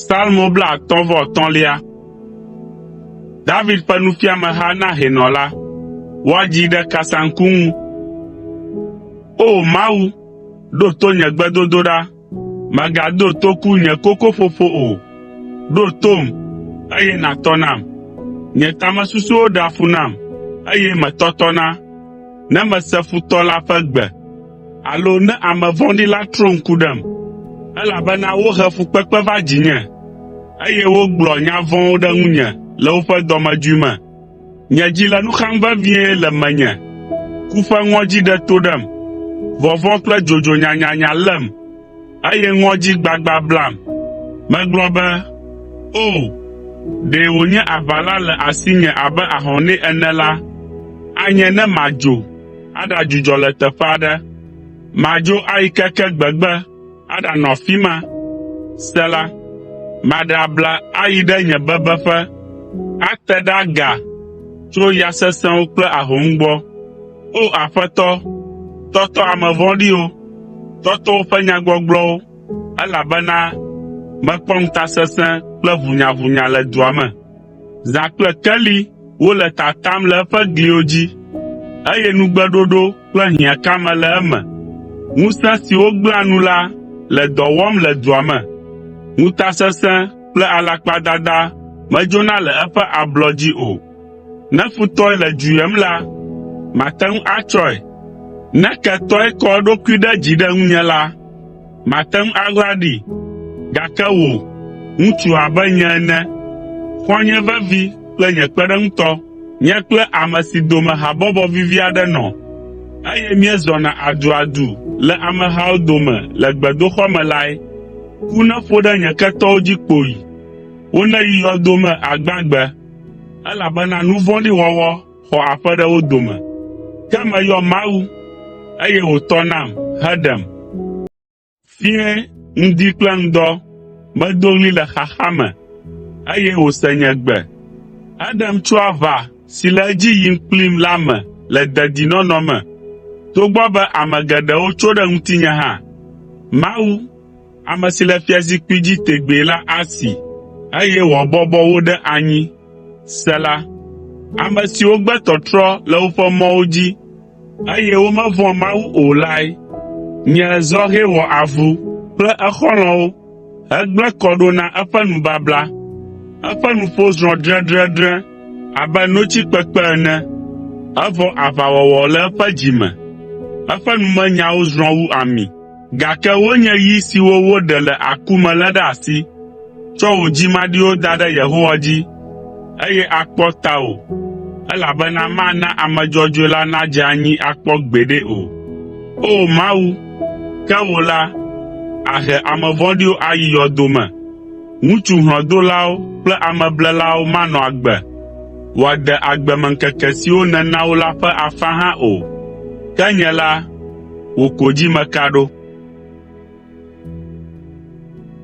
Salmo blaatɔ̃ vɔ etɔ̃lia. David ƒe nufiameha na hɛnɔ la. Woa dzi ɖe kasaŋku ŋu. O Mawu, ɖo to nye gbedodoɖa “Mègado toku nye kokoƒoƒo o. Ɖo tom, eye nàtɔ nam. Nye tamesusuwo ɖea fu nam, eye metɔtɔna ne mese futɔ la ƒe gbe, alo ne ame vɔ̃ɖi la trɔ ŋku ɖem. Elabena wohe fukpekpe va dzinye, eye wogblɔ nya vɔ̃wo ɖe ŋunye le woƒe dɔmedzoe me. Nye dzi le nu xam vevie le menye, ku ƒe ŋɔdzi ɖe to ɖem, vɔvɔ̃ kple dzodzo nyanyanya lém, eye ŋɔdzi gbagba blam. Megblɔ be, “O, ɖe wònye aʋala le asinye abe ahɔnɛ ene la, anye ne madzo aɖadzudzɔ le teƒe aɖe. Madzo ayi keke gbegbe, aɖanɔ afi ma. Sela Maɖe abla ayi ɖe nye bebeƒe, ate ɖe aga tso ya sesẽwo kple ahom gbɔ. O Aƒetɔ, tɔtɔ ame vɔ̃ɖiwo, tɔtɔ woƒe nyagbɔgblɔwo, elabena mekpɔ ŋutasesẽ kple ʋunyʋʋnya le dua me. Zã kple keli wole tatam le eƒe gliwo dzi, eye nugbeɖoɖo kple hiãkame le eme. Ŋusẽ siwo gblẽa nu la le dɔ wɔm le dua me. Ŋutasesẽ kple alakpadada medzona le eƒe ablɔ dzi o. Ne futɔe le dzu yem la, mate ŋu atsɔe. Ne ketɔe kɔ eɖokui ɖe dzi ɖe ŋunye la, Màte ŋu aɣla ɖi, gake wò, ŋutsu abe nye ene, xɔ̃nye vevi kple nye kpeɖeŋutɔ, nye kple ame si dome habɔbɔ vivi aɖe nɔ, eye míezɔna aduadu le amehawo dome le gbedoxɔ me lae, ku neƒo ɖe nye ketɔwo dzi kpoyi! Woneyi yɔdo me agbagbe, elabena nu vɔ̃ɖi wɔwɔ xɔ aƒe ɖe wo dome. Ke meyɔ Mawu, eye wòtɔ nam heɖem. Fiẽ ŋdi kple ŋdɔ medo ɣli le xaxa me, eye wòse nye gbe. Eɖem tso aʋa si le edzi yim kplim la me le dedinɔnɔ me, togbɔ be ame geɖewo tso ɖe ŋutinye hã. Mawu! ame si le fiazikpui dzi tegbee la asi, eye wòabɔbɔ wo ɖe anyi. Sela Ame siwo gbe tɔtrɔ le woƒe mɔwo dzi, eye womevɔ̃a Mawu o lae nye zɔhɛ wɔ avu kple exɔlɔ̃wo hegblẽ kɔ ɖo na eƒe nubabla. Eƒe nuƒo zrɔ̃ dredredre abe notsi kpekpe ene, evɔ aʋawɔwɔ le eƒe dzi me, eƒe numenyawo zrɔ̃ wu ami. Gake wonye yi siwo woɖe le aku me lé ɖe asi. Tsɔ wò dzi maɖiwo da ɖe Yehowa dzi, eye akpɔ tawò, elabena mana ame dzɔdzɔe la nadze anyi akpɔ gbeɖe o. O Mawu, ke wò la, àhe ame vɔ̃ɖiwo ayi yɔdo me. Ŋutsu hlɔ̃dolawo kple ameblelawo manɔ agbe, wòade agbemeŋkeke siwo nèna wo la ƒe afã hã o. Ke nye la, wò ko dzi meka ɖo.